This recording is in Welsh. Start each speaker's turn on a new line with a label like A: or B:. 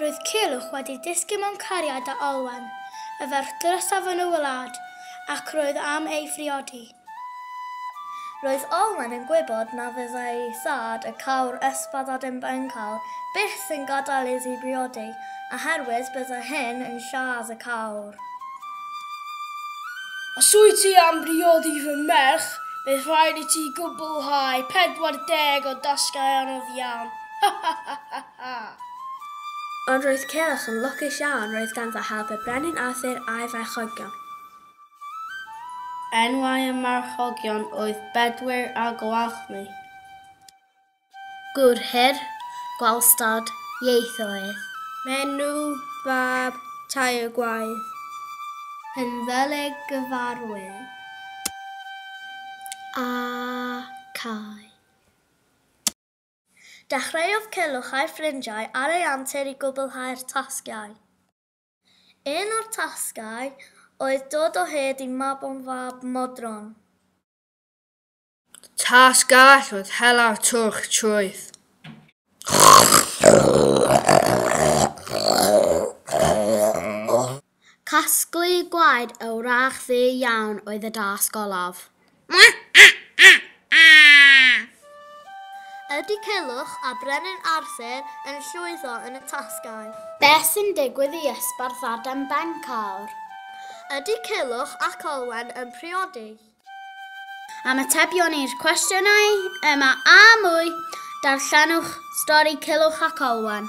A: Roedd Culhwch wedi dysgu mewn cariad â Olwen, y ferch drysaf yn y wlad, ac roedd am ei phriodi.
B: Roedd Olwen yn gwybod na fyddai ei thad, y cawr Ysbaddaden Bencawl, byth yn gadael iddi briodi, oherwydd byddai hyn yn lladd y cawr.
C: Os wyt ti am briodi fy merch, bydd rhaid i ti gwblhau 40 o dasgau anodd iawn. Ha ha ha
B: ha ha! Ond roedd Cilch yn lwcus iawn, roedd ganddo help y Brenin Arthur a'i farchogion.
D: Enwau y marchogion oedd Bedwyr a Gwalchmai.
B: Gŵr her, gwalstad, ieithoedd. Menyw
A: fab tair gwaed.
B: Penddelig gyfarwydd a Cai. Dechreuodd Culhwch a'i ffrindiau ar ei antur i gwblhau'r tasgiau. Un o'r tasgau oedd dod o hyd i Mabon fab Modron.
C: Tas gall fod hela'r twrch trwyth.
B: Casglu gwaed y wrach ddu iawn oedd y dasg olaf. Ydy Culhwch a Brenin Arthur yn llwyddo yn y tasgau? Beth sy'n
A: digwydd i Ysbarth Adam Bencawr? Ydy
B: Culhwch ac Olwen yn priodi?
A: Am atebion i'r cwestiynau yma a mwy, darllenwch stori Culhwch ac Olwen.